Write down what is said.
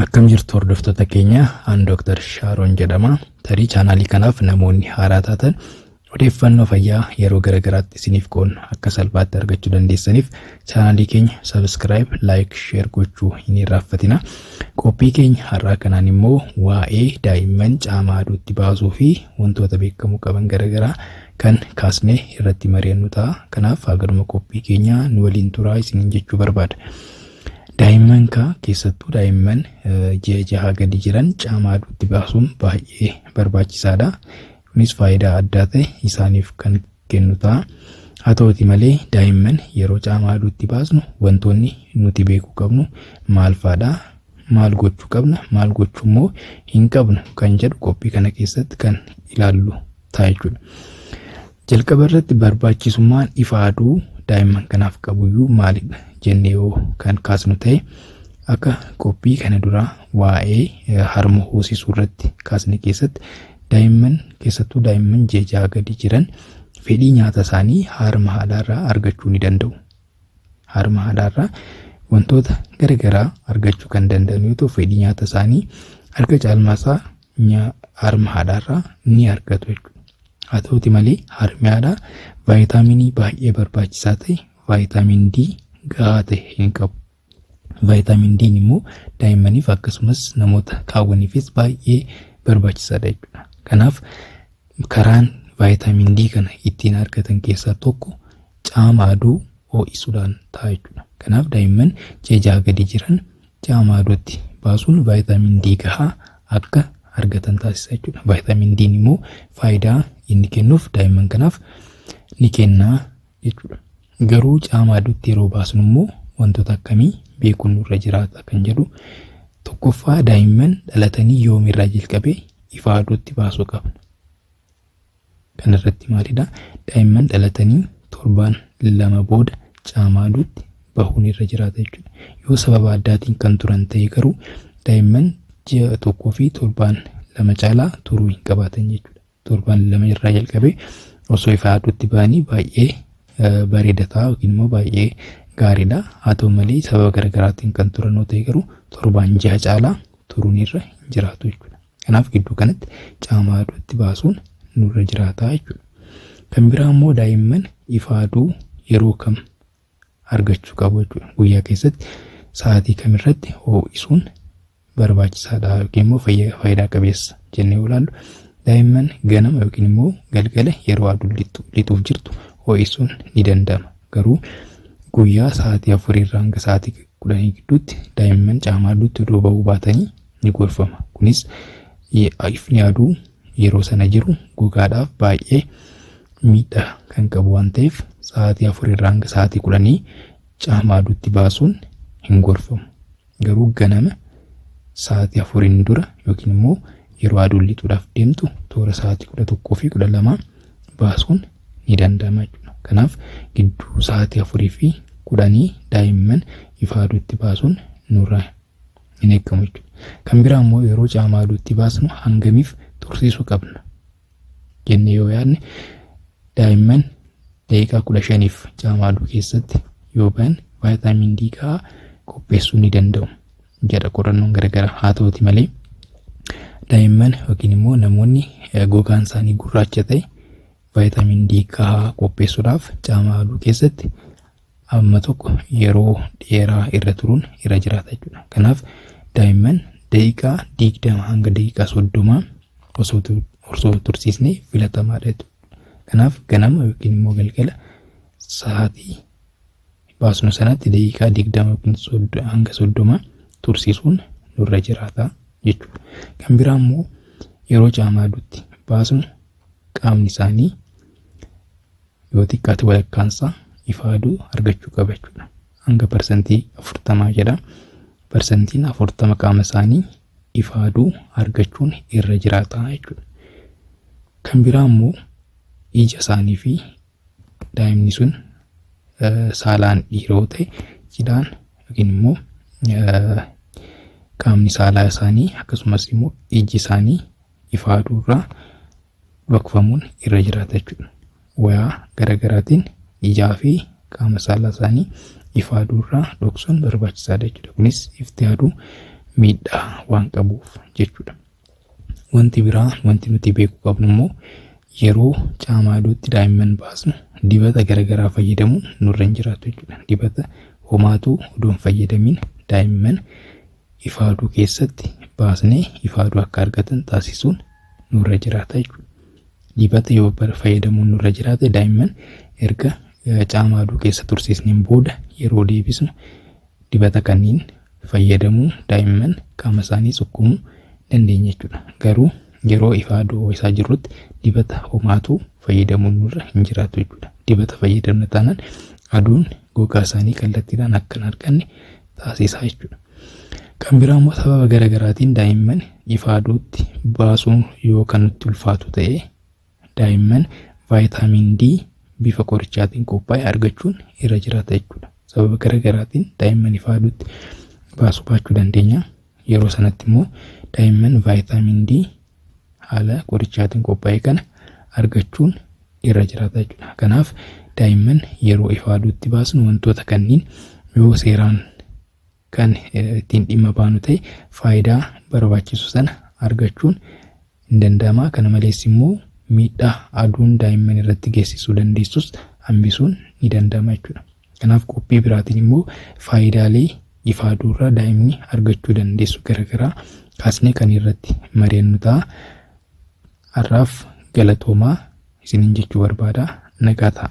Akkam jirtu hordoftoota keenya an Dr. Shaaroon jedhama. Tarii chaanaalii kanaaf namoonni haaraa taatan odeeffannoo fayyaa yeroo garaagaraatti isiniif qoodna akka salphaatti argachuu dandeessaniif chaanaalii keenya sabiskiraayib, laayik, sheer gochuu hin irraanfatina. Qophii keenya har'aa kanaan immoo waa'ee daa'imman caamaa aduutti baasuu fi wantoota beekamuu qaban garaagaraa kan kaasnee irratti mari'annu ta'a. Kanaaf hagaluma qophii keenya nu waliin turaa isiniin jechuu barbaada. Daa'imman kaa keessattuu daa'imman ji'a jahaa gadi jiran caamaa aduutti baasuun baay'ee barbaachisaadha. Kunis faayidaa addaa ta'e isaaniif kan kennu ta'a. Haa ta'uti malee daa'imman yeroo caamaa aduutti baasnu wantoonni nuti beekuu qabnu maal faadha? Maal gochuu qabna? Maal gochuu immoo hin qabnu? Kan jedhu qophii kana keessatti kan ilaallu ta'a jechuudha. Jalqaba irratti barbaachisummaan ifa aduu daa'imman kanaaf qabuyyuu maalidha jennee yoo kan kaasnu ta'e akka qophii kana duraa waa'ee harma hoosisuu irratti kaasne keessatti daa'imman keessattuu daa'imman ji'a ja'a gadi jiran fedhii nyaata isaanii harma haadhaarraa argachuu ni danda'u. harma haadhaarraa wantoota gara garaa argachuu kan danda'an yoo ta'u fedhii nyaata isaanii harka caalmaasaa harma haadhaarraa ni argatu jechuudha. Haa ta'uti malee harmi haadhaa vaayitaaminii baay'ee barbaachisaa ta'e vaayitaamin D gahaa ta'e hin qabu. Vaayitaamin D'n immoo daa'immaniif akkasumas namoota qaawwaniifis baay'ee barbaachisaadha jechuudha. Kanaaf karaan vaayitaamin D kana ittiin argatan keessaa tokko caama aduu ho'isuudhaan ta'a jechuudha. Kanaaf daa'imman ji'a jaha gadi jiran caama aduutti baasuun vaayitaamin D gahaa akka argatan taasisa jechuudha. Vaayitaamin D immoo faayidaa inni kennuuf daa'imman kanaaf ni kenna jechuudha. Garuu caamaa iddotti yeroo baasnu immoo wantoota akkamii beekuun nurra jiraata kan jedhu tokkoffaa daa'imman dhalatanii yoomirraa jalqabee ifaa aduutti baasuu qabna. Kana irratti maalidha? Daa'imman dhalatanii torbaan lama booda caamaa aduutti bahuun irra jiraata jechuudha. Yoo sababa addaatiin kan turan ta'e garuu daa'imman ji'a tokkoo fi torbaan lama caalaa turuu hin qabaatan jechuudha. torban lama irraa jalqabee osoo ifaa aduutti ba'anii baay'ee bareeda ta'a yookiin immoo baay'ee gaariidha. Haa ta'u malee sababa garaagaraatiin kan turan yoo ta'e garuu torbaan jaha caalaa turuun irra hin jiraatu jechuudha. Kanaaf gidduu kanatti caamaa aduutti baasuun nurra jiraata jechuudha. Kan biraa immoo daa'imman ifaa aduu yeroo kam argachuu qabu jechuudha. Guyyaa keessatti sa'aatii kamirratti hoo'isuun barbaachisaadha yookiin immoo faayidaa qabeessa jennee ilaallu daa'imman ganama yookiin immoo galgala yeroo aduun lixuuf jirtu hoo'isuun ni danda'ama. Garuu guyyaa sa'aatii afurii irraa hanga sa'aatii kudhanii gidduutti daa'imman caamaa aduutti odoo ba'uu baatanii ni gorfama. Kunis ifni aduu yeroo sana jiru gogaadhaaf baay'ee miidhaa kan qabu waan ta'eef sa'aatii afur irraa hanga sa'aatii kudhanii caama aduutti baasuun hin gorfamu. Garuu ganama sa'aatii afuriin dura yookiin immoo yeroo aduun lixuudhaaf deemtu toora sa'aatii kudha tokkoo fi kudha lamaa baasuun ni danda'ama jechuudha. Kanaaf gidduu sa'aatii afurii fi kudhanii daa'imman ifa aduutti baasuun nurra hin eegamu jechuudha. Kan biraa immoo yeroo caamaa aduutti baasnu hangamiif tursiisuu qabna jennee yoo yaadne daa'imman daqiiqaa kudha shaniif caamaa aduu keessatti yoo ba'an vaayitaamin D gahaa qopheessuu ni danda'u jedha qorannoon garaagaraa haa ta'uti malee daa'imman yookiin immoo namoonni gogaan isaanii gurraacha ta'e vaayitaamin D gahaa qopheessuudhaaf caamaa aduu keessatti amma tokko yeroo dheeraa irra turuun irra jiraata jechuudha. Kanaaf daa'imman daqiiqaa digdama hanga daqiiqaa soddomaa osoo tu- osoo hin tursiisne filatamaadha jechuudha. Kanaaf ganama yookiin immoo galgala sa'aatii baasnu sanatti daqiiqaa digdama yookiin soddo- hanga soddomaa tursiisuun nurra jiraata jechuudha. Kan biraa immoo yeroo caamaadutti baasnu qaamni isaanii yoo xiqqaate walakkaansaa ifaaduu argachuu qaba jechuudha. Hanga parsantii afurtamaa jedha. Parsantiin afurtama qaama isaanii ifaaduu argachuun irra jiraata jechuudha. Kan biraa immoo ija isaanii fi daa'imni sun saalaan dhiira yoo ta'e cidhaan yookiin immoo qaamni saalaa isaanii akkasumas immoo iji isaanii ifaaduu irraa dhokfamuun irra jiraata jechuudha. Wayaa garaagaraatiin ijaa fi qaama saalaa isaanii ifaaduu irraa dhoksuun barbaachisaadha jechuudha. Kunis ifti aduu miidhaa waan qabuuf jechuudha. Wanti biraa wanti nuti beekuu qabnu immoo yeroo caamaa aduutti daa'imman baasnu dibata garaagaraa fayyadamuun nurra hin jiraatu jechuudha. Dibata homaatu odoo hin fayyadamiin daa'imman ifaaduu keessatti baasnee ifaaduu akka argatan taasisuun nurra jiraata jechuudha. Dibata yoo fayyadamuun nurra jiraate daa'imman erga caama aduu keessa tursiisneen booda yeroo deebisnu dibata kanneen fayyadamuu daa'imman qaama isaanii sukkuumuu dandeenya jechuudha. Garuu yeroo ifaa aduu isaa jirrutti dibata homaatu fayyadamuun nurra hin jiraatu jechuudha. Dibata fayyadamna taanaan aduun gogaa isaanii kallattiidhaan akka hin arganne taasisaa jechuudha. Kan biraa immoo sababa gara garaatiin daa'imman ifa aduutti baasuun yoo kan nutti ulfaatu ta'e daa'imman vaayitaamiin D bifa qorichaatiin qophaa'e argachuun irra jiraata jechuudha. Sababa gara garaatiin daa'imman ifa aduutti baasuu baachuu dandeenya. Yeroo sanatti immoo daa'imman vaayitaamin D haala qorichaatiin qophaa'e kana argachuun irra jiraata jechuudha. Kanaaf daa'imman yeroo ifa aduutti baasnu wantoota kanniin yoo seeraan kan ittiin dhimma baanu ta'e faayidaa barbaachisu sana argachuun hin danda'ama. Kana malees immoo miidhaa aduun daa'imman irratti geessisuu dandeessus hambisuun ni danda'ama jechuudha. Kanaaf qophii biraatiin immoo faayidaalee ifa aduurraa daa'imni argachuu dandeessu garagaraa kaasnee kan irratti mari'annu ta'a. Har'aaf galatoomaa isiniin jechuu barbaada. Nagaa ta'a.